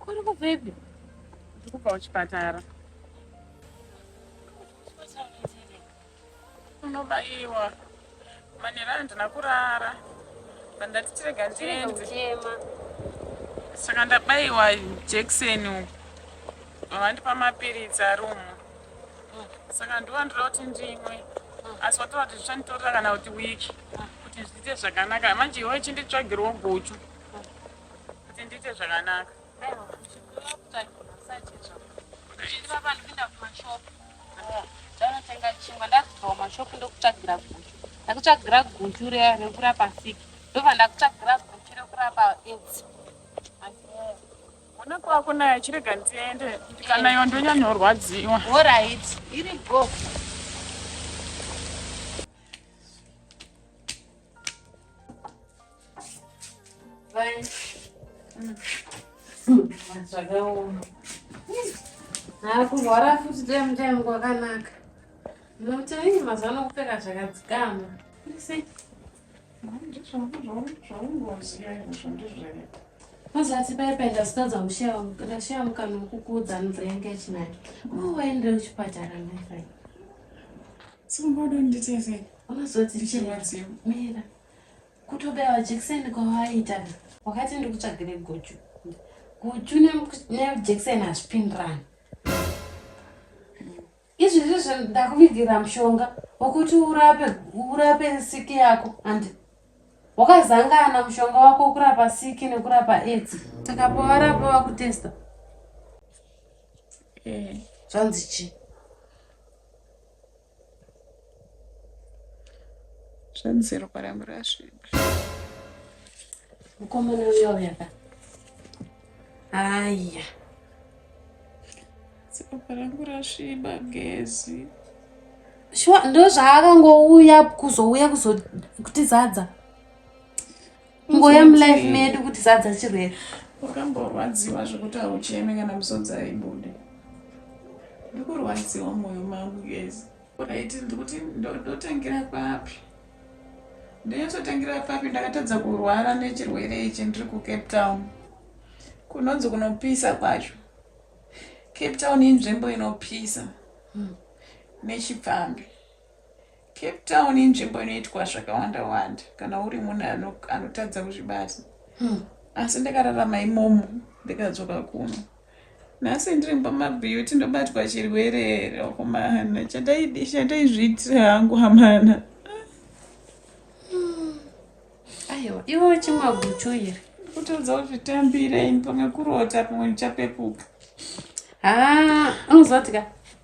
Kuri kubvepi? Ndiri kubva kuchipatara. Unobaiwa. Manera handina kurara pandati tirega ndiende saka ndabayiwa jekiseni uku vavandipa mapiritsi ari umu saka ndova ndoda kuti ndimwe asi watoa kuti zvichanditorera kana kuti wiki kuti zviite zvakanaka manje iwe chinditsvagirwo guchu kuti ndiite zvakanaka ndakutsvagira guchu riya rekurapa siki ndobva ndakutsvagira guchu rekurapa aids ona kwako nayo chirega ndiende ndikanayo ndonyanyorwadziwa orit iri go zvakaoma hakurwara futi time time kwakanaka nokuti mazuva anokupfeka zvakadzikama mazati paipa ndasikaza ndashaya mukana wekukuudza nzira yanga ichinaya oh, waendere kuchipatara mairai so mbodo nditese unozoti ndichirwadziwa mira Kutobaiwa jekiseni kwawaiita wakati ndikutsvagire guchu. Guchu nejekiseni hazvipindirani. Izvi ndizvo ndakuvigira mushonga wokuti urape urape siki yako andi wakazangana mushonga wako kurapa siki nekurapa edzi saka pawarapa wakutesta eh. zvanzi chii Zvanzi ropa rangu rasviba. Mukomana uya uya ka. Aya. Ropa rangu rasviba gezi. Shuwa ndozvaakangouya kuzouya kuzotizadza. ngoya mulife medu kuti sadza chirwere wakamborwadziwa zvekuti haucheme kana musodzi aibude ndikurwadziwa mwoyo mangu yes right ndikuti ndotangira papi ndinototengera papi ndakatadza kurwara nechirwere ichi ndiri kucape town kunonzi kunopisa kwacho cape town inzvimbo inopisa hmm. nechipfambi Cape Town inzvimbo inoitwa zvakawanda wanda kana uri munhu anotadza kuzvibata hmm. asi ndakararama imomo ndikadzoka kuno nhasi ndiri pamabeauty ndobatwa chirwere here akomana chataizviitira hangu hamana aiwa iwo chimwa guchu iri kutodza kuzvitambira ini pamwe kurota pamwe ndichapepuka haa unozotika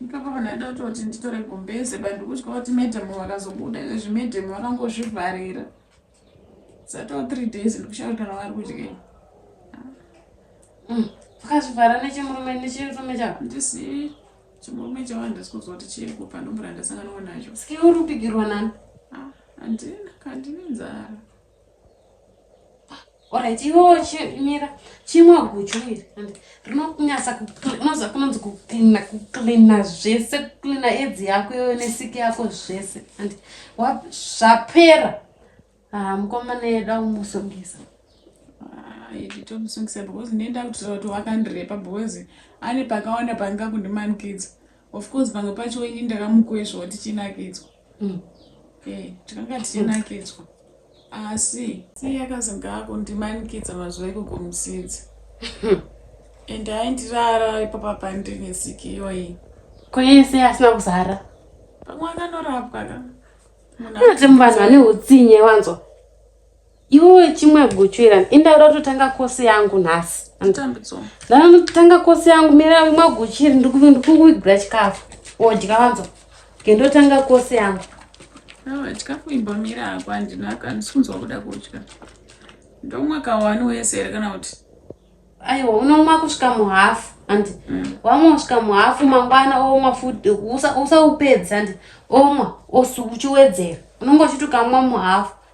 Ipapo vanhu vaida kutoti nditore gumbeze but ndikutya kuti madam vakazobuda izvezvi madam vakangozvivharira satoo three days ndikushava kana vari kudyei mm. vakazvivhara nechimurume nechirume chavo ndisi chimurume chavo handisi kuziva kuti chiri kupa ndombura ndasanganwa nacho ske uri kupigirwa nani ah, handina kandine nzara Alright, iwewo chimira chimwa guchu iri and rinonyasa kunoza kunonzi kuklina kuklina zvese kuklina edzi yako iwewe nesiki yako zvese and zvapera haa mukomana yeda umusongesa tomusongesa because ndenda kutira kuti wakandirepa because ane pakawanda panga kundimanikidza of course pamwe pacho ini ndakamukwezva kuti chinakidzwa mm. eh, takanga tichinakidzwa asi sei akazoga kundimanikidza mazuva ikoko musinzi and aindirara ipapa pandine siki iyoyi koyese asina kuzara pamwe akanorapwa ka munhu ati muvanhu vane utsinye wanzwa Iwe chimwe guchu ira indaura kutotanga kosi yangu nhasi. Anditambidzwa. Ndana kutotanga kosi yangu mira imwe guchu iri ndikukuigura chikafu. Odya wanzo. Kendotanga kosi yangu. Awa chikafu imba mira hako andina kandisunzwa kuda kudya. Ndomwa kawani wese here kana kuti? Aiwa unomwa kusvika muhafu handi mm. wamwa kusvika muhafu mangwana omwa futi usaupedzi handi omwa uchiwedzera unonge uchiti ukamwa muhafu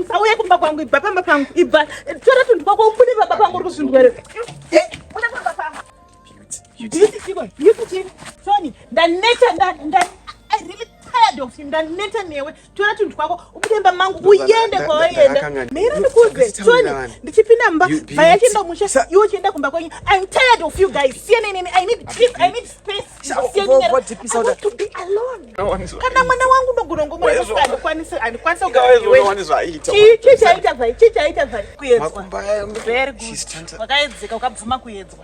usauye kumba kwangu ibva pamba pangu ibva tora tunhu twako ubude pamba pangu uri kuzvindwere ndaneta newe tora tunhu twako ubudemba mangu uyende kwawaenda mira ndikuze tony ndichipinda mumba vaya chienda musha iwe chienda kumba kwenyu im tired of you guys siyanai neni i need peace i need space kana mwana wangu ndogona ngomurasa andikwanisi andikwanisi kugaaichii chaita zai chii chaita zai kuedzwa wakaedzeka ukabvuma kuedzwa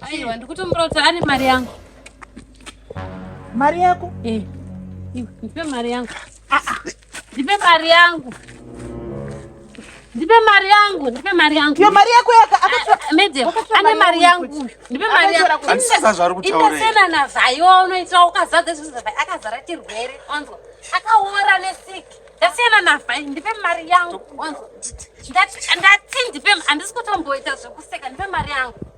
Aiwa ndikutombura kuti ane mari yangu. Mari yako? Eh. Iwe ndipe mari yangu. Ah ah. Ndipe mari yangu. Ndipe mari yangu, ndipe mari yangu. Ndipe mari yako yaka akatora. Ah, Medem, ane mari yangu. Ndipe mari yangu. Anisiza zvari kutaura. Ita sena na zvayo unoita ukazadza zvinhu zvavai akazara chirwere. Onzwa. Akaora nesick. Ndasiyana na vhai, ndipe mari yangu. Onzwa. Ndati ndipe andisi kutomboita zvekuseka, ndipe mari yangu.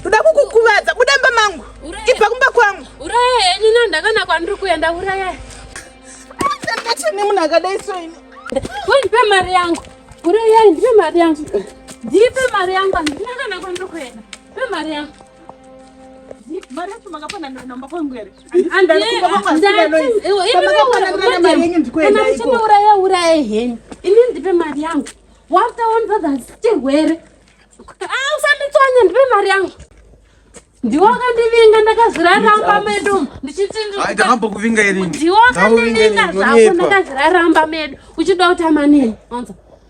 Ndoda kukukuvadza, buda mba mangu. Ibva kumba kwangu. Uraya henyu no ndakana kwandiri kuenda uraya. Ndati ne munhu akadai so ini. Wewe ndipe mari yangu. Uraya ndipe mari yangu. Ndipe mari yangu, ndakana kwandiri kuenda. Ndipe mari yangu. Mari yacho makapona namba kwangu here? muchamauraya uraya henyu ini ndipe mari yangu waftaonbadhasitehwere ah, usanditswanya ndipe mari yangu ndiwo akandivinga ndakazviraramba medu ndichitindiwoakandivinga zvako ndakazviraramba medu uchida kuti amanini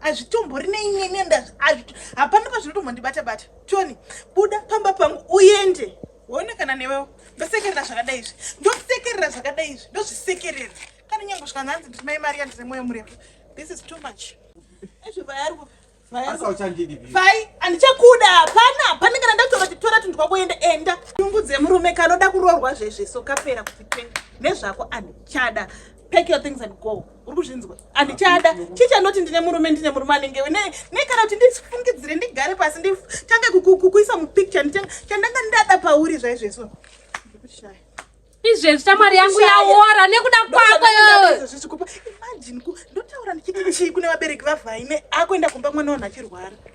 hazvitombori neinini hapana pazvinotombondibata bata tony buda pamba pangu uende woona kana newewo ndosekerera zvakadai izvi ndosekerera zvakadai izvi ndozvisekerera kana nyange kusvika nhanzi nditi mai mari yandine mwoyo murefu this is too much ezvo vayarwo fai handichakuda hapana hapana kana ndatoa titora tunhu twako enda enda nyungu dzemurume kanoda kuroorwa zvezve so kapera kuti pe nezvako handichada pack your things and go uri kuzvinzwa handichada chii chanoti ndine murume ndine murume anenge we nekana kuti ndifungidzire ndigare pasi nditange kukuisa mupicture chandanga ndada pauri zvaizvezvo ndikushaya izvezvi shamwari yangu yaora nekuda kwako imagine ndotaura ndichiti chii kune vabereki vavhaine akuenda kumba mwana wanhu achirwara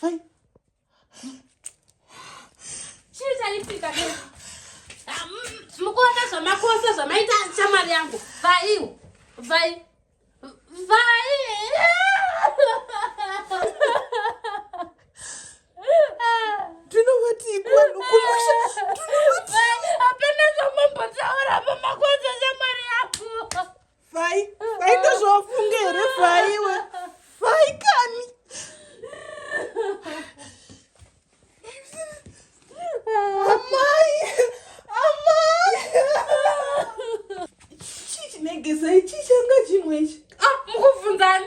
Fai. Chii chaitika kaka? Ah, Mukuona zvamakosa zvamaita shamwari yangu. Vaiwo. Vai. Vai. Tunovati kwanu kumusha. Tunovati. Hapana zvamambotaura pamakosa shamwari yangu. fai fai ndozvawafunga here faiwe fai kani amai amai chii chinegesa ichii changa chimwe ichi ah, mukubvunzani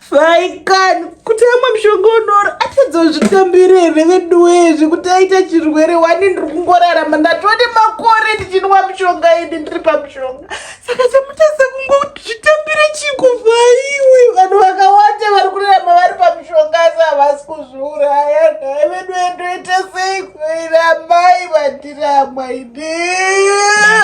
Faikani kuti amwe mushonga unoro atadzozvitambire here veduwee zvekuti aita chirwere wani ndiri kungorarama ndatova nemakore ndichinwa mushonga ini ndiri pamushonga saka chamutadza kungozvitambira chikuvaiwe vanhu vakawanda vari kurarama vari pamushonga asi havasi kuzviuraya nhai veduwee ndoita sei kuira amai vandiri amwaidee